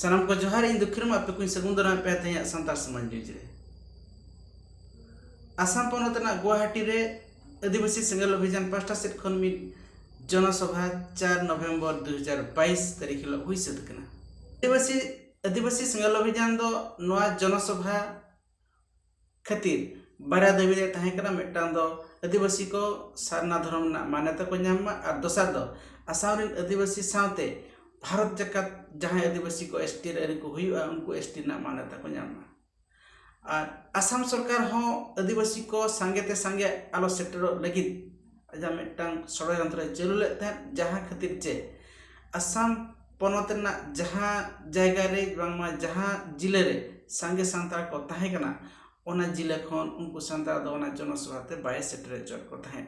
ᱥᱟᱱᱟᱢ ᱠᱚ ᱡᱚᱦᱟᱨ ᱤᱧ ᱫᱚ ᱠᱷᱤᱨᱢ ᱟᱯᱮ ᱠᱚᱧ ᱥᱟᱹᱜᱩᱱ ᱫᱟᱨᱟᱢ ᱯᱮᱭᱟ ᱛᱮᱦᱮᱧᱟᱜ ᱥᱟᱱᱛᱟᱲ ᱥᱚᱢᱟᱡᱽ ᱱᱤᱭᱩᱡᱽ ᱨᱮ ᱟᱥᱟᱢ ᱯᱚᱱᱚᱛ ᱨᱮᱱᱟᱜ ᱜᱩᱣᱟᱦᱟᱴᱤ ᱨᱮ ᱟᱹᱫᱤᱵᱟᱹᱥᱤ ᱥᱮᱸᱜᱮᱞ ᱚᱵᱷᱤᱡᱟᱱ ᱯᱟᱥᱴᱟ ᱥᱮᱫ ᱠᱷᱚᱱ ᱢᱤᱫ ᱡᱚᱱᱚᱥᱚᱵᱷᱟ ᱪᱟᱨ ᱱᱚᱵᱷᱮᱢᱵᱚᱨ ᱫᱩ ᱦᱟᱡᱟᱨ ᱵᱟᱭᱤᱥ ᱛᱟᱹᱨᱤᱠᱷ ᱦᱤᱞᱳᱜ ᱦᱩᱭ ᱥᱟᱹᱛ ᱟᱠᱟᱱᱟ ᱟᱹᱫᱤᱵᱟᱹᱥᱤ ᱟᱹᱫᱤᱵᱟᱹᱥᱤ ᱥᱮᱸᱜᱮᱞ ᱚᱵᱷᱤᱡᱟᱱ ᱫᱚ ᱱᱚᱣᱟ ᱡᱚᱱᱚᱥᱚᱵᱷᱟ ᱠᱷᱟᱹᱛᱤᱨ ᱵᱟᱨᱭᱟ ᱫᱟᱹᱵᱤ ᱨᱮ ᱛᱟᱦᱮᱸ ᱠᱟᱱᱟ ᱢᱤᱫᱴᱟᱝ ᱫᱚ ᱟᱹᱫᱤᱵᱟᱹᱥᱤ ᱠᱚ ᱥᱟᱨᱱᱟ ᱫᱷᱚᱨᱚᱢ ᱨᱮᱱᱟᱜ ᱢᱟᱱᱱᱚᱛᱟ ᱠᱚ ᱧᱟᱢ ᱢᱟ ᱟᱨ ᱫᱚᱥᱟᱨ ᱫᱚ ᱟᱥᱟᱢ ᱨᱮᱱ ᱟᱹᱫᱤᱵᱟᱹᱥᱤ ᱥᱟᱶᱛᱮ ᱵᱷᱟᱨᱚᱛ ᱡᱟᱠᱟᱛ ᱡᱟᱦᱟᱸᱭ ᱟᱹᱫᱤᱵᱟᱹᱥᱤ ᱠᱚ ᱮᱥ ᱴᱤ ᱨᱮᱱ ᱠᱚ ᱦᱩᱭᱩᱜᱼᱟ ᱩᱱᱠᱩ ᱮᱥ ᱴᱤ ᱨᱮᱱᱟᱜ ᱢᱟᱱᱱᱚᱛᱟ ᱠᱚ ᱧᱟᱢ ᱢᱟ ᱟᱨ ᱟᱥᱟᱢ ᱥᱚᱨᱠᱟᱨ ᱦᱚᱸ ᱟᱹᱫᱤᱵᱟᱹᱥᱤ ᱠᱚ ᱥᱟᱸᱜᱮ ᱛᱮ ᱥᱟᱸᱜᱮ ᱟᱞᱚ ᱥᱮᱴᱮᱨᱚᱜ ᱞᱟᱹᱜᱤᱫ ᱟᱡᱟᱜ ᱢᱤᱫᱴᱟᱝ ᱥᱚᱲᱚᱡᱚᱱᱛᱨᱚᱭ ᱪᱟᱹᱞᱩ ᱞᱮᱫ ᱛᱟᱦᱮᱸᱫ ᱡᱟᱦᱟᱸ ᱠᱷᱟᱹᱛᱤᱨ ᱛᱮ ᱟᱥᱟᱢ ᱯᱚᱱᱚᱛ ᱨᱮᱱᱟᱜ ᱡᱟᱦᱟᱸ ᱡᱟᱭᱜᱟ ᱨᱮ ᱵᱟᱝᱢᱟ ᱡᱟᱦᱟᱸ ᱡᱤᱞᱟᱹ ᱨᱮ ᱥᱟᱸᱜᱮ ᱥᱟᱱᱛᱟᱲ ᱠᱚ ᱛᱟᱦᱮᱸ ᱠᱟᱱᱟ ᱚᱱᱟ ᱡᱤᱞᱟᱹ ᱠᱷᱚᱱ ᱩᱱᱠᱩ ᱥᱟᱱᱛᱟᱲ ᱫᱚ ᱚᱱᱟ ᱡᱚᱱᱚ ᱥᱚᱵᱷᱟ ᱛᱮ ᱵᱟᱭ ᱥᱮᱴᱮᱨ ᱦᱚᱪᱚᱣᱟᱫ ᱠᱚ ᱛᱟᱦᱮᱸᱫ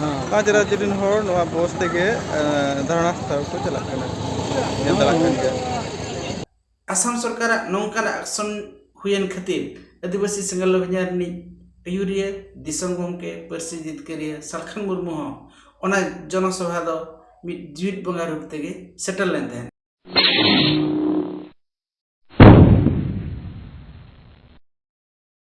ᱦᱮᱸ ᱯᱟᱸᱪ ᱨᱟᱡᱽᱡᱚ ᱨᱮᱱ ᱦᱚᱲ ᱱᱚᱣᱟ ᱵᱚᱥ ᱛᱮᱜᱮ ᱫᱷᱟᱨᱚᱱᱟ ᱴᱷᱟᱶ ᱠᱚ ᱪᱟᱞᱟᱜ ᱠᱟᱱᱟ ᱧᱮᱞ ᱫᱟᱲᱮᱭᱟᱜ ᱠᱟᱱ ᱜᱮᱭᱟ ᱟᱥᱟᱢ ᱥᱚᱨᱠᱟᱨᱟᱜ ᱱᱚᱝᱠᱟᱱᱟᱜ ᱮᱠᱥᱚᱱ ᱦᱩᱭᱮᱱ ᱠᱷᱟᱹᱛᱤᱨ ᱟᱹᱫᱤᱵᱟᱹᱥᱤ ᱥᱮᱸᱜᱮᱞ ᱚᱵᱷᱤᱡᱟᱱ ᱨᱤᱱᱤᱡ ᱟᱹᱭᱩᱨᱤᱭᱟᱹ ᱫᱤᱥᱚᱢ ᱜᱚᱢᱠᱮ ᱯᱟᱹᱨᱥᱤ ᱡᱤᱛᱠᱟᱹᱨᱤᱭᱟᱹ ᱥᱟᱞᱠᱷᱟᱱ ᱢᱩᱨᱢᱩ ᱦᱚᱸ ᱚᱱᱟ ᱡᱚᱱᱚᱥᱚᱵᱷᱟ ᱫᱚ ᱢᱤᱫ ᱡᱤᱣᱤᱫ ᱵᱚᱸᱜᱟ ᱨᱩᱯ ᱛᱮᱜᱮ ᱥᱮᱴᱮᱨ ᱞᱮᱱ ᱛᱟᱦᱮᱸᱫ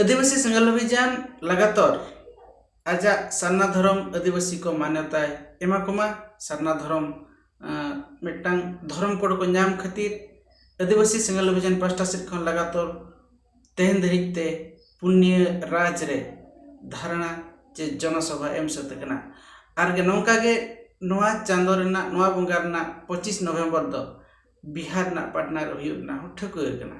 ᱟᱹᱫᱤᱵᱟᱹᱥᱤ ᱥᱮᱸᱜᱮᱞ ᱚᱵᱷᱤᱡᱟᱱ ᱞᱟᱜᱟᱛᱚᱨ ᱟᱡᱟᱜ ᱥᱟᱨᱱᱟ ᱫᱷᱚᱨᱚᱢ ᱟᱹᱫᱤᱵᱟᱹᱥᱤ ᱠᱚ ᱢᱟᱱᱚᱛᱟᱭ ᱮᱢᱟ ᱠᱚᱢᱟ ᱥᱟᱨᱱᱟ ᱫᱷᱚᱨᱚᱢ ᱢᱤᱫᱴᱟᱝ ᱫᱷᱚᱨᱚᱢ ᱠᱳᱰ ᱠᱚ ᱧᱟᱢ ᱠᱷᱟᱹᱛᱤᱨ ᱟᱹᱫᱤᱵᱟᱹᱥᱤ ᱥᱮᱸᱜᱮᱞ ᱚᱵᱷᱤᱡᱟᱱ ᱯᱟᱥᱴᱟ ᱥᱮᱫ ᱠᱷᱚᱱ ᱞᱟᱜᱟᱛᱚᱨ ᱛᱮᱦᱮᱧ ᱫᱷᱟᱹᱨᱤᱡ ᱛᱮ ᱯᱩᱱᱭᱟᱹ ᱨᱟᱡᱽ ᱨᱮ ᱫᱷᱟᱨᱚᱱᱟ ᱪᱮ ᱡᱚᱱᱚ ᱥᱚᱵᱷᱟ ᱮᱢ ᱥᱟᱹᱛ ᱟᱠᱟᱱᱟ ᱟᱨ ᱜᱮ ᱱᱚᱝᱠᱟ ᱜᱮ ᱱᱚᱣᱟ ᱪᱟᱸᱫᱚ ᱨᱮᱱᱟᱜ ᱱᱚᱣᱟ ᱵᱚᱸᱜᱟ ᱨᱮᱱᱟᱜ ᱯᱚᱸᱪᱤᱥ ᱱᱚᱵᱷᱮᱢᱵᱚᱨ ᱫᱚ ᱵᱤᱦᱟᱨ ᱨᱮᱱᱟᱜ ᱯᱟᱴᱱᱟ ᱨᱮ ᱦᱩᱭᱩᱜ ᱨᱮᱱᱟᱜ ᱦᱚᱸ ᱴᱷᱟᱹᱣᱠᱟᱹ ᱟᱠᱟᱱᱟ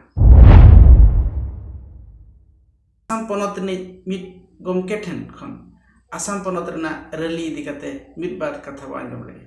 ᱟᱥᱟᱢ ᱯᱚᱱᱚᱛ ᱨᱤᱱᱤᱡ ᱢᱤᱫ ᱜᱚᱢᱠᱮ ᱴᱷᱮᱱ ᱠᱷᱚᱱ ᱟᱥᱟᱢ ᱯᱚᱱᱚᱛ ᱨᱮᱱᱟᱜ ᱨᱮᱞᱤ ᱤᱫᱤ ᱠᱟᱛᱮ ᱢᱤᱫ ᱵᱟᱨ ᱠᱟᱛᱷᱟ ᱵᱚᱱ ᱟᱸᱡᱚᱢ ᱞᱮᱜᱮ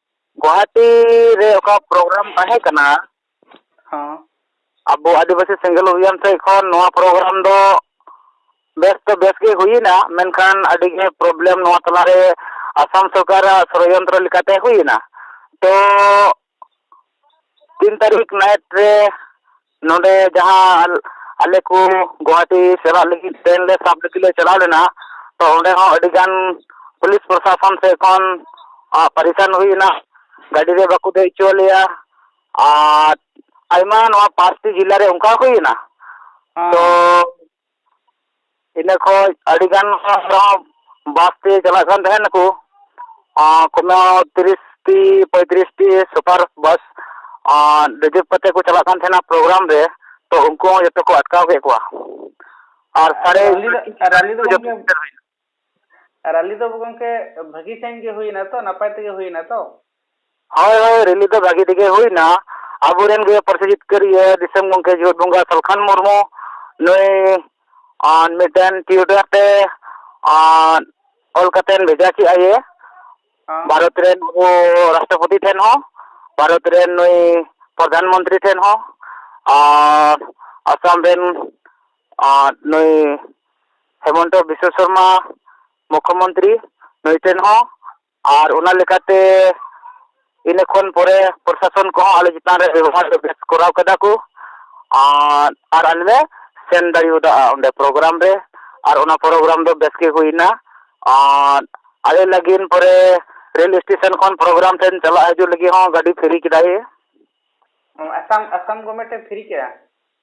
ᱜᱩᱣᱟᱦᱟᱴᱤ ᱨᱮ ᱚᱠᱟ ᱯᱨᱳᱜᱨᱟᱢ ᱛᱟᱦᱮᱸ ᱠᱟᱱᱟ ᱦᱚᱸ ᱟᱵᱚ ᱟᱹᱫᱤᱵᱟᱹᱥᱤ ᱥᱮᱸᱜᱮᱞ ᱚᱵᱷᱤᱭᱟᱱ ᱥᱮᱫ ᱠᱷᱚᱱ ᱱᱚᱣᱟ ᱯᱨᱳᱜᱨᱟᱢ ᱫᱚ ᱵᱮᱥ ᱫᱚ ᱵᱮᱥ ᱜᱮ ᱦᱩᱭᱮᱱᱟ ᱢᱮᱱᱠᱷᱟᱱ ᱟᱹᱰᱤ ᱜᱮ ᱯᱨᱚᱵᱞᱮᱢ ᱱᱚᱣᱟ ᱛᱟᱞᱟ ᱨᱮ ᱟᱥᱟᱢ ᱥᱚᱨᱠᱟᱨᱟᱜ ᱥᱚᱲᱚᱡᱚᱱᱛᱨᱚ ᱞᱮᱠᱟᱛᱮ ᱦᱩᱭᱮᱱᱟ ᱛᱚ ᱛᱤᱱ ᱛᱟᱹᱨᱤᱠᱷ ᱱᱟᱭᱤᱴ ᱨᱮ ᱱᱚᱰᱮ ᱡᱟᱦᱟᱸ ᱟᱞᱮ ᱠᱚ ᱜᱳᱦᱟᱴᱤ ᱪᱟᱞᱟᱜ ᱞᱟᱹᱜᱤᱫ ᱴᱨᱮᱱ ᱞᱮ ᱥᱟᱵ ᱞᱟᱹᱜᱤᱫ ᱞᱮ ᱪᱟᱞᱟᱣ ᱞᱮᱱᱟ ᱛᱳ ᱚᱸᱰᱮ ᱦᱚᱸ ᱟᱹᱰᱤ ᱜᱟᱱ ᱯᱩᱞᱤᱥ ᱯᱨᱚᱥᱟᱥᱚᱱ ᱥᱮᱫ ᱠᱷᱚᱱ ᱯᱟᱨᱤᱥᱟᱱ ᱦᱩᱭ ᱮᱱᱟ ᱜᱟᱹᱰᱤ ᱨᱮ ᱵᱟᱠᱚ ᱫᱮᱡ ᱦᱚᱪᱚᱣᱟᱜ ᱞᱮᱭᱟ ᱟᱨ ᱟᱭᱢᱟ ᱱᱚᱣᱟ ᱯᱟᱸᱪᱴᱤ ᱡᱮᱞᱟᱨᱮ ᱚᱱᱠᱟ ᱦᱩᱭ ᱮᱱᱟ ᱛᱳ ᱤᱱᱟᱹ ᱠᱷᱚᱱ ᱟᱹᱰᱤ ᱜᱟᱱ ᱦᱚᱲ ᱦᱚᱸ ᱵᱟᱥ ᱛᱮ ᱪᱟᱞᱟᱜ ᱠᱟᱱ ᱛᱟᱦᱮᱸ ᱱᱟᱠᱚ ᱠᱳᱱᱳ ᱛᱤᱨᱤᱥ ᱴᱤ ᱯᱚᱸᱭᱛᱨᱤᱥ ᱴᱤ ᱥᱩᱯᱟᱨ ᱵᱟᱥ ᱟᱨ ᱨᱤᱡᱟᱹᱵᱽ ᱠᱟᱛᱮᱫ ᱠᱚ ᱪᱟᱞᱟᱜ ᱠᱟᱱ ᱛᱟᱦᱮᱱᱟ ᱯᱨᱳᱜᱨᱟᱢ ᱨᱮ ᱛᱳ ᱩᱱᱠᱩ ᱦᱚᱸ ᱡᱚᱛᱚ ᱠᱚ ᱟᱴᱠᱟᱣ ᱠᱮᱫ ᱠᱚᱣᱟ ᱟᱨ ᱥᱟᱲᱮ ᱨᱮᱞᱤ ᱫᱚ ᱜᱚᱢᱠᱮ ᱨᱟᱞᱤ ᱫᱚ ᱜᱚᱝᱠᱮ ᱵᱷᱟᱹᱜᱤ ᱥᱟᱺᱦᱤᱡ ᱜᱮ ᱦᱩᱭᱱᱟ ᱛᱚ ᱱᱟᱯᱟᱭ ᱛᱮᱜᱮ ᱦᱩᱭᱱᱟ ᱛᱚ ᱦᱳᱭ ᱦᱳᱭ ᱨᱮᱞᱤ ᱫᱚ ᱵᱷᱟᱹᱜᱤ ᱛᱮᱜᱮ ᱦᱩᱭᱱᱟ ᱟᱵᱚᱨᱮᱱ ᱜᱮ ᱯᱟᱹᱨᱥᱤ ᱡᱤᱛᱠᱟᱹᱨᱤᱭᱟᱹ ᱫᱤᱥᱚᱢ ᱜᱚᱝᱠᱮ ᱡᱤᱣᱮᱫ ᱵᱚᱸᱜᱟ ᱥᱟᱞᱠᱷᱟᱱ ᱢᱩᱨᱢᱩ ᱱᱩᱭ ᱟᱨ ᱢᱤᱫᱴᱮᱱ ᱴᱤᱭᱩᱴᱟᱨ ᱛᱮ ᱟᱨ ᱚᱞ ᱠᱟᱛᱮᱱ ᱵᱷᱮᱡᱟ ᱠᱮᱜ ᱟᱭᱮ ᱦᱮᱸ ᱵᱷᱟᱨᱚᱛ ᱨᱮᱱ ᱟᱵᱚ ᱨᱟᱥᱴᱨᱚᱯᱚᱛᱤ ᱴᱷᱮᱱ ᱦᱚᱸ ᱵᱷᱟᱨᱚᱛ ᱨᱮᱱ ᱱᱩᱭ ᱯᱨᱚᱫᱷᱟᱱ ᱢᱚᱱᱛᱨᱤ ᱴᱷᱮᱱ ᱦᱚᱸ ᱟᱨ ᱟᱥᱟᱢ ᱨᱮᱱ ᱟᱨ ᱱᱩᱭ ᱦᱮᱢᱚᱱᱛᱚ ᱵᱤᱥᱥᱚ ᱥᱚᱨᱢᱟ ᱢᱩᱠᱠᱷᱚ ᱢᱚᱱᱛᱨᱤ ᱱᱩᱭ ᱴᱷᱮᱱ ᱦᱚᱸ ᱟᱨ ᱚᱱᱟ ᱞᱮᱠᱟᱛᱮ ᱤᱱᱟᱹ ᱠᱷᱚᱱ ᱯᱚᱨᱮ ᱯᱨᱚᱥᱟᱥᱚᱱ ᱠᱚᱦᱚᱸ ᱟᱞᱮ ᱪᱮᱛᱟᱱ ᱨᱮ ᱵᱮᱵᱚᱦᱟᱨ ᱫᱚ ᱵᱮᱥ ᱠᱚᱨᱟᱣ ᱠᱟᱫᱟ ᱠᱚ ᱟᱨ ᱟᱨ ᱟᱞᱮ ᱞᱮ ᱥᱮᱱ ᱫᱟᱲᱮᱭᱟᱫᱟ ᱚᱸᱰᱮ ᱯᱨᱳᱜᱨᱟᱢ ᱨᱮ ᱟᱨ ᱚᱱᱟ ᱯᱨᱳᱜᱨᱟᱢ ᱫᱚ ᱵᱮᱥ ᱜᱮ ᱦᱩᱭᱱᱟ ᱟᱨ ᱟᱞᱮ ᱞᱟᱹᱜᱤᱫ ᱯᱚᱨᱮ ᱨᱮᱹᱞ ᱮᱥᱴᱮᱥᱚᱱ ᱠᱷᱚᱱ ᱯᱨᱳᱜᱨᱟᱢ ᱴᱷᱮᱱ ᱪᱟᱞᱟᱜ ᱦᱤᱡᱩᱜ ᱞᱟᱹᱜᱤᱫ ᱦᱚᱸ ᱜᱟᱹᱰᱤ ᱯᱷᱨᱤ ᱠᱮᱫᱟᱭᱮ ᱟᱥᱟᱢ ᱟᱥᱟᱢ ᱜᱚᱵᱷᱢᱮᱱᱴ ᱮ ᱯᱷᱨᱤ ᱠᱮᱫᱟ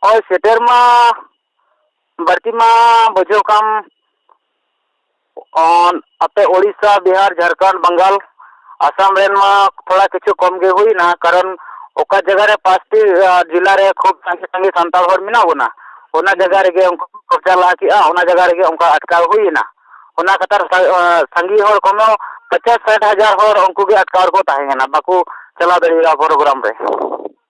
ᱦᱳᱭ ᱥᱮᱴᱮᱨ ᱢᱟ ᱵᱟᱹᱲᱛᱤ ᱢᱟ ᱵᱩᱡᱷᱟᱹᱣ ᱠᱟᱜ ᱟᱢ ᱟᱯᱮ ᱳᱰᱤᱥᱟ ᱵᱤᱦᱟᱨ ᱡᱷᱟᱲᱠᱷᱚᱸᱰ ᱵᱟᱝᱜᱟᱞ ᱟᱥᱟᱢ ᱨᱮᱱ ᱢᱟ ᱛᱷᱚᱲᱟ ᱠᱤᱪᱷᱩ ᱠᱚᱢ ᱜᱮ ᱦᱩᱭᱱᱟ ᱠᱟᱨᱚᱱ ᱚᱠᱟ ᱡᱟᱭᱜᱟ ᱨᱮ ᱯᱟᱸᱪᱴᱤ ᱡᱮᱞᱟ ᱨᱮ ᱠᱷᱩᱵᱽ ᱥᱟᱸᱜᱮ ᱥᱟᱸᱜᱮ ᱥᱟᱱᱛᱟᱲ ᱦᱚᱲ ᱢᱮᱱᱟᱜ ᱵᱚᱱᱟ ᱚᱱᱟ ᱡᱟᱭᱜᱟ ᱨᱮᱜᱮ ᱩᱱᱠᱩ ᱠᱚ ᱠᱚᱵᱽᱡᱟ ᱞᱟᱦᱟ ᱠᱮᱜᱼᱟ ᱚᱱᱟ ᱡᱟᱭᱜᱟ ᱨᱮᱜᱮ ᱚᱱᱠᱟ ᱟᱴᱠᱟᱣ ᱦᱩᱭᱱᱟ ᱚᱱᱟ ᱠᱟᱛᱷᱟ ᱥᱟᱸᱜᱮ ᱦᱚᱲ ᱠᱷᱚᱱ ᱦᱚᱸ ᱯᱚᱧᱪᱟᱥ ᱥᱟᱴ ᱦᱟᱡᱟᱨ ᱦᱚᱲ ᱩᱱᱠᱩ ᱜᱮ ᱟᱴᱠᱟᱣ ᱨᱮᱠᱚ ᱛᱟᱦᱮᱸ ᱠᱟᱱᱟ ᱵᱟᱠᱚ ᱪᱟᱞᱟᱣ ᱫᱟᱲᱮᱭᱟᱫᱟ ᱯᱨᱳᱜᱨᱟᱢ ᱨᱮ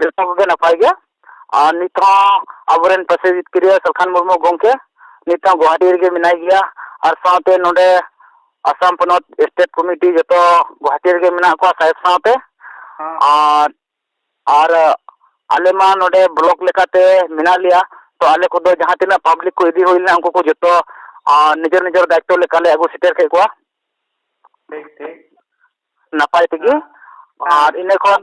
ᱡᱚᱛᱚ ᱠᱚᱜᱮ ᱱᱟᱯᱟᱭ ᱜᱮ ᱟᱨ ᱱᱤᱛ ᱦᱚᱸ ᱟᱵᱚ ᱨᱮᱱ ᱯᱟᱪᱮ ᱡᱤᱛᱠᱟᱹᱨᱤᱭᱟᱹ ᱥᱟᱞᱠᱷᱟᱱ ᱢᱩᱨᱢᱩ ᱜᱚᱢᱠᱮ ᱱᱤᱛ ᱦᱚᱸ ᱜᱳᱦᱟᱴᱤ ᱨᱮᱜᱮ ᱢᱮᱱᱟᱭ ᱜᱮᱭᱟ ᱟᱨ ᱥᱟᱶᱛᱮ ᱱᱚᱰᱮ ᱟᱥᱟᱢ ᱯᱚᱱᱚᱛ ᱥᱴᱮᱴ ᱠᱚᱢᱤᱴᱤ ᱡᱚᱛᱚ ᱜᱳᱦᱟᱴᱤ ᱨᱮᱜᱮ ᱢᱮᱱᱟᱜ ᱠᱚᱣᱟ ᱥᱟᱦᱮᱵᱽ ᱥᱟᱶᱛᱮ ᱟᱨ ᱟᱨ ᱟᱞᱮ ᱢᱟ ᱱᱚᱰᱮ ᱵᱞᱚᱠ ᱞᱮᱠᱟᱛᱮ ᱢᱮᱱᱟᱜ ᱞᱮᱭᱟ ᱛᱚ ᱟᱞᱮ ᱠᱚᱫᱚ ᱡᱟᱦᱟᱸ ᱛᱤᱱᱟᱹᱜ ᱯᱟᱵᱽᱞᱤᱠ ᱠᱚ ᱤᱫᱤ ᱦᱩᱭ ᱞᱮᱱᱟ ᱩᱱᱠᱩ ᱠᱚ ᱡᱚᱛᱚ ᱟᱨ ᱱᱤᱡᱮᱨ ᱱᱤᱡᱮᱨ ᱫᱟᱭᱤᱛᱛᱚ ᱞᱮᱠᱟᱞᱮ ᱟᱹᱜᱩ ᱥᱮᱴᱮᱨ ᱠᱮᱫ ᱠᱚᱣᱟ ᱴᱷᱤᱠ ᱴᱷᱤᱠ ᱱᱟᱯᱟᱭ ᱛᱮᱜᱮ ᱟᱨ ᱤᱱᱟᱹ ᱠᱷᱚᱱ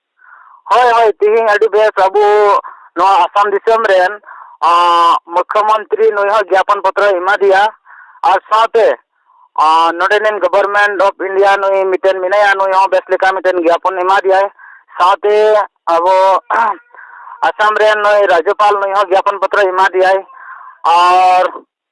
ᱦᱳᱭ ᱦᱳᱭ ᱛᱮᱦᱮᱧ ᱟᱹᱰᱤ ᱵᱮᱥ ᱟᱵᱚ ᱱᱚᱣᱟ ᱟᱥᱟᱢ ᱫᱤᱥᱚᱢ ᱨᱮᱱ ᱢᱩᱠᱠᱷᱚ ᱢᱚᱱᱛᱨᱤ ᱱᱩᱭ ᱦᱚᱸ ᱡᱟᱯᱚᱱ ᱯᱚᱛᱨᱚᱭ ᱮᱢᱟ ᱫᱮᱭᱟ ᱟᱨ ᱥᱟᱶᱛᱮ ᱱᱚᱰᱮᱱᱤᱡ ᱜᱚᱵᱷᱚᱨᱢᱮᱱᱴ ᱚᱯᱷ ᱤᱱᱰᱤᱭᱟ ᱱᱩᱭ ᱢᱤᱫᱴᱮᱱ ᱢᱮᱱᱟᱭᱟ ᱱᱩᱭ ᱦᱚᱸ ᱵᱮᱥ ᱞᱮᱠᱟ ᱢᱤᱫᱴᱮᱱ ᱡᱟᱯᱚᱱ ᱮᱢᱟ ᱫᱮᱭᱟᱭ ᱥᱟᱶᱛᱮ ᱟᱵᱚ ᱟᱥᱟᱢ ᱨᱮᱱ ᱱᱩᱭ ᱨᱟᱡᱽᱡᱚᱯᱟᱞ ᱱᱩᱭ ᱦᱚᱸ ᱡᱟᱯᱚᱱ ᱯᱚᱛᱨᱚᱭ ᱮᱢᱟ ᱫᱮᱭᱟᱭ ᱟᱨ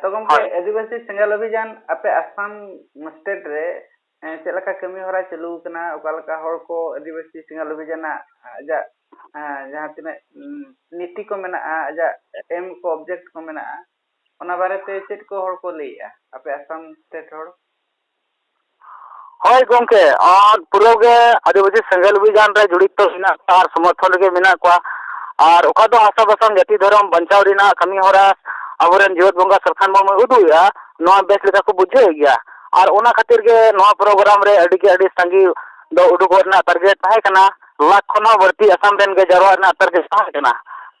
ᱛᱚ ᱜᱚᱝᱠᱮ ᱦᱳᱭ ᱟᱹᱫᱤᱵᱟᱹᱥᱤ ᱥᱮᱸᱜᱮᱞ ᱚᱵᱷᱤᱡᱟᱱ ᱟᱯᱮ ᱟᱥᱟᱢ ᱥᱴᱮᱴ ᱨᱮ ᱪᱮᱫ ᱞᱮᱠᱟ ᱠᱟᱹᱢᱤ ᱦᱚᱨᱟ ᱪᱟᱹᱞᱩ ᱟᱠᱟᱱᱟ ᱚᱠᱟ ᱞᱮᱠᱟ ᱦᱚᱲ ᱠᱚ ᱟᱹᱫᱤᱵᱟᱹᱥᱤ ᱥᱮᱸᱜᱮᱞ ᱚᱵᱷᱤᱡᱟᱱᱟᱜ ᱟᱡᱟᱜ ᱡᱟᱦᱟᱸ ᱛᱤᱱᱟᱹᱜ ᱱᱤᱛᱤ ᱠᱚ ᱢᱮᱱᱟᱜᱼᱟ ᱟᱡᱟᱜ ᱮᱢ ᱠᱚ ᱚᱵᱡᱮᱠᱴ ᱠᱚ ᱢᱮᱱᱟᱜᱼᱟ ᱚᱱᱟ ᱵᱟᱨᱮᱛᱮ ᱪᱮᱫ ᱠᱚ ᱦᱚᱲ ᱠᱚ ᱞᱟᱹᱭᱮᱜᱼᱟ ᱟᱯᱮ ᱟᱥᱟᱢ ᱥᱴᱮᱴ ᱦᱚᱲ ᱦᱳᱭ ᱜᱚᱢᱠᱮ ᱟᱨ ᱯᱩᱨᱟᱹ ᱜᱮ ᱟᱹᱫᱤᱵᱟᱹᱥᱤ ᱥᱮᱸᱜᱮᱞ ᱚᱵᱷᱤᱡᱟᱱ ᱨᱮ ᱡᱚᱲᱤᱛᱚ ᱢᱮᱱᱟᱜ ᱠᱚᱣᱟ ᱟᱨ ᱥᱚᱢᱚᱨᱛᱷᱚᱱ ᱨᱮᱜᱮ ᱢᱮᱱᱟᱜ ᱠᱚᱣᱟ ᱟᱨ ᱚᱠᱟ ᱫᱚ ᱟᱥᱚᱞ ᱠᱟᱛᱷᱟ ᱡᱟᱹᱛᱤ ᱫᱷᱚᱨᱚᱢ ᱵᱟᱧᱪᱟᱣ ᱨᱮᱱᱟᱜ ᱠᱟᱹᱢᱤ ᱦᱚᱨᱟ ᱟᱵᱚ ᱨᱮᱱ ᱡᱮᱭᱮᱛ ᱵᱚᱸᱜᱟ ᱥᱟᱞᱠᱷᱟᱱ ᱢᱩᱨᱢᱩᱭ ᱩᱫᱩᱜ ᱮᱫᱟ ᱱᱚᱣᱟ ᱵᱮᱥ ᱞᱮᱠᱟ ᱠᱚ ᱵᱩᱡᱷᱟᱹᱣᱮᱫ ᱜᱮᱭᱟ ᱟᱨ ᱚᱱᱟ ᱠᱷᱟᱹᱛᱤᱨ ᱜᱮ ᱱᱚᱣᱟ ᱯᱨᱳᱜᱨᱟᱢ ᱨᱮ ᱟᱹᱰᱤ ᱜᱮ ᱟᱹᱰᱤ ᱥᱟᱸᱜᱮ ᱫᱚ ᱩᱰᱩᱠᱚᱜ ᱨᱮᱱᱟᱜ ᱛᱟᱹᱜᱤ ᱛᱟᱦᱮᱸ ᱠᱟᱱᱟ ᱞᱟᱠᱷ ᱠᱷᱚᱱ ᱦᱚᱸ ᱵᱟᱹᱲᱛᱤ ᱟᱥᱟᱢ ᱨᱮᱱ ᱜᱮ ᱡᱟᱣᱨᱟᱜ ᱨᱮᱱᱟᱜ ᱛᱟᱹᱜᱤ ᱛᱟᱦᱮᱸ ᱠᱟᱱᱟ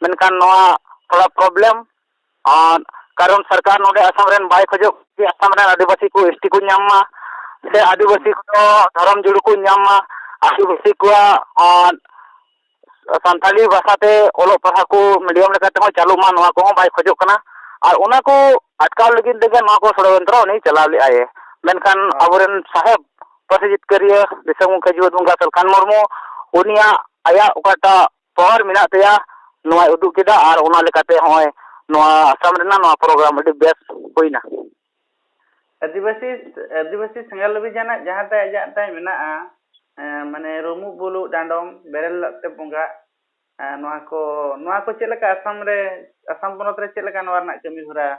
ᱢᱮᱱᱠᱷᱟᱱ ᱱᱚᱣᱟ ᱛᱷᱚᱲᱟ ᱯᱨᱚᱵᱞᱮᱢ ᱟᱨ ᱠᱟᱨᱚᱱ ᱥᱚᱨᱠᱟᱨ ᱱᱚᱰᱮ ᱟᱥᱟᱢ ᱨᱮᱱ ᱵᱟᱭ ᱠᱷᱚᱡᱚᱜ ᱠᱟᱱᱟ ᱟᱥᱟᱢ ᱨᱮᱱ ᱟᱹᱫᱤᱵᱟᱹᱥᱤ ᱠᱚ ᱮᱥᱴᱤ ᱠᱚ ᱧᱟᱢ ᱢᱟ ᱥᱮ ᱟᱹᱫᱤᱵᱟᱹᱥᱤ ᱠᱚ ᱫᱷᱚᱨᱚᱢ ᱡᱩᱲᱩ ᱠᱚ ᱧᱟᱢ ᱢᱟ ᱟᱹᱫᱤᱵᱟᱹᱥᱤ ᱠᱚᱣᱟᱜ ᱟᱨ ᱥᱟᱱᱛᱟᱲᱤ ᱵᱷᱟᱥᱟ ᱛᱮ ᱚᱞᱚᱜ ᱯᱟᱲᱦᱟᱜ ᱠᱚ ᱢᱤᱰᱤᱭᱟᱢ ᱞᱮᱠᱟ ᱛᱮᱦᱚᱸ ᱪᱟᱹᱞᱩᱜ ᱢᱟ ᱱᱚᱣᱟ ᱠᱚᱦᱚᱸ ᱵᱟᱭ ᱠᱷᱚᱡᱚᱜ ᱠᱟᱱᱟ ᱟᱨ ᱚᱱᱟ ᱠᱚ ᱟᱴᱠᱟᱣ ᱞᱟᱹᱜᱤᱫ ᱛᱮᱜᱮ ᱱᱚᱣᱟ ᱠᱚ ᱥᱚᱲᱚᱡᱚᱱᱛᱨᱚ ᱩᱱᱤ ᱪᱟᱞᱟᱣ ᱞᱮᱫᱟᱭᱮ ᱢᱮᱱᱠᱷᱟᱱ ᱟᱵᱚ ᱨᱮᱱ ᱥᱟᱦᱮᱵᱽ ᱯᱟᱹᱨᱥᱤ ᱡᱤᱛᱠᱟᱹᱨᱤᱭᱟᱹ ᱫᱤᱥᱚᱢ ᱜᱚᱢᱠᱮ ᱡᱤᱣᱮᱫ ᱵᱚᱝᱜᱟ ᱥᱟᱞᱠᱷᱟᱱ ᱢᱩᱨᱢᱩ ᱩᱱᱤᱭᱟᱜ ᱟᱭᱟᱜ ᱚᱠᱟᱴᱟᱜ ᱯᱟᱣᱟᱨ ᱢᱮᱱᱟᱜ ᱛᱟᱭᱟ ᱱᱚᱣᱟᱭ ᱩᱫᱩᱜ ᱠᱮᱫᱟ ᱟᱨ ᱚᱱᱟ ᱞᱮᱠᱟᱛᱮ ᱦᱚᱸᱜᱼᱚᱭ ᱱᱚᱣᱟ ᱟᱥᱟᱢ ᱨᱮᱱᱟᱜ ᱱᱚᱣᱟ ᱯᱨᱳᱜᱨᱟᱢ ᱟᱹᱰᱤ ᱵᱮᱥ ᱦᱩᱭᱱᱟ ᱟᱹᱫᱤᱵᱟᱹᱥᱤ ᱟᱹᱫᱤᱵᱟᱹᱥᱤ ᱥᱮᱸᱜᱮᱞ ᱚᱵᱷᱤᱡᱟᱱᱟᱜ ᱡᱟᱦᱟᱸ ᱛᱟᱭ ᱟᱡᱟᱜ ᱛᱟᱭ ᱢᱮᱱᱟᱜᱼᱟ ᱢᱟᱱᱮ ᱨᱩᱢᱩᱜ ᱵᱩᱞᱩᱜ ᱰᱟᱸᱰᱚᱢ ᱵᱮᱨᱮᱞ ᱞᱟᱜ ᱛᱮ ᱵᱚᱸᱜᱟ ᱱᱚᱣᱟ ᱠᱚ ᱱᱚᱣᱟ ᱠᱚ ᱪᱮᱫ ᱞᱮᱠᱟ ᱟᱥᱟᱢ ᱨᱮ ᱟᱥᱟᱢ ᱯᱚᱱᱚᱛ ᱨᱮ ᱪᱮᱫ ᱞᱮᱠᱟ ᱱᱚᱣᱟ ᱨᱮᱱᱟᱜ ᱠᱟᱹᱢᱤ ᱦᱚᱨᱟ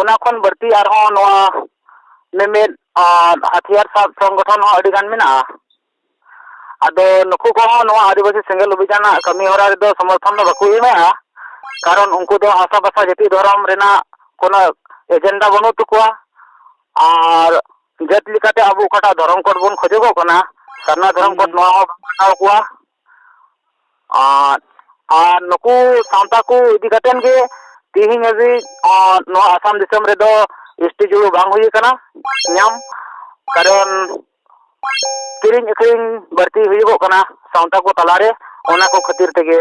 ᱚᱱᱟ ᱠᱷᱚᱱ ᱵᱟᱹᱲᱛᱤ ᱟᱨᱦᱚᱸ ᱱᱚᱣᱟ ᱢᱤᱢᱤᱫ ᱦᱟᱹᱛᱭᱟᱹᱨ ᱥᱟᱵ ᱥᱚᱝᱜᱚᱴᱷᱚᱱ ᱦᱚᱸ ᱟᱹᱰᱤᱜᱟᱱ ᱢᱮᱱᱟᱜᱼᱟ ᱟᱫᱚ ᱱᱩᱠᱩ ᱠᱚᱦᱚᱸ ᱱᱚᱣᱟ ᱟᱹᱫᱤᱵᱟᱹᱥᱤ ᱥᱮᱸᱜᱮᱞ ᱚᱵᱷᱤᱡᱟᱱ ᱨᱮᱱᱟᱜ ᱠᱟᱹᱢᱤ ᱦᱚᱨᱟ ᱨᱮᱫᱚ ᱥᱚᱢᱚᱨᱛᱷᱚᱱ ᱫᱚ ᱵᱟᱠᱚ ᱮᱢᱮᱫᱼᱟ ᱠᱟᱨᱚᱱ ᱩᱱᱠᱩ ᱫᱚ ᱦᱟᱥᱟ ᱵᱷᱟᱥᱟ ᱡᱟᱹᱛᱤ ᱫᱷᱚᱨᱚᱢ ᱨᱮᱱᱟᱜ ᱠᱳᱱᱳ ᱮᱡᱮᱱᱰᱟ ᱵᱟᱹᱱᱩᱜ ᱛᱟᱠᱚᱣᱟ ᱟᱨ ᱡᱟᱹᱛ ᱞᱮᱠᱟᱛᱮ ᱟᱵᱚ ᱚᱠᱟᱴᱟᱜ ᱫᱷᱚᱨᱚᱢ ᱠᱳᱰ ᱵᱚᱱ ᱠᱷᱚᱡᱚᱜᱚᱜ ᱠᱟᱱᱟ ᱥᱟᱨᱱᱟ ᱫᱷᱚᱨᱚᱢ ᱠᱳᱰ ᱱᱚᱣᱟ ᱦᱚᱸ ᱵᱟᱠᱚ ᱢᱟᱱᱟᱣ ᱠᱚᱣᱟ ᱟᱨ ᱟᱨ ᱱᱩᱠᱩ ᱥᱟᱶᱛᱟ ᱠᱚ ᱤᱫᱤ ᱠᱟᱛᱮ ᱜᱮ ᱛᱮᱦᱮᱧ ᱦᱟᱹᱵᱤᱡ ᱱᱚᱣᱟ ᱟᱥᱟᱢ ᱫᱤᱥᱚᱢ ᱨᱮᱫᱚ ᱮᱥ ᱴᱤ ᱡᱤᱭᱳ ᱵᱟᱝ ᱦᱩᱭ ᱠᱟᱱᱟ ᱧᱟᱢ ᱠᱟᱨᱚᱱ ᱠᱤᱨᱤᱧ ᱟᱹᱠᱷᱨᱤᱧ ᱵᱟᱹᱲᱛᱤ ᱦᱩᱭᱩᱜᱚᱜ ᱠᱟᱱᱟ ᱥᱟᱶᱛᱟ ᱠᱚ ᱛᱟᱞᱟᱨᱮ ᱚᱱᱟ ᱠᱚ ᱠᱷᱟᱹᱛᱤᱨ ᱛᱮᱜᱮ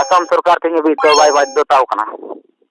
ᱟᱥᱟᱢ ᱥᱚᱨᱠᱟᱨ ᱛᱮᱦᱮᱧ ᱦᱟᱹᱵᱤᱡ ᱛᱮ ᱵᱟᱭ ᱵᱟᱫᱽᱫᱷᱚᱛᱟᱣ ᱠᱟᱱᱟ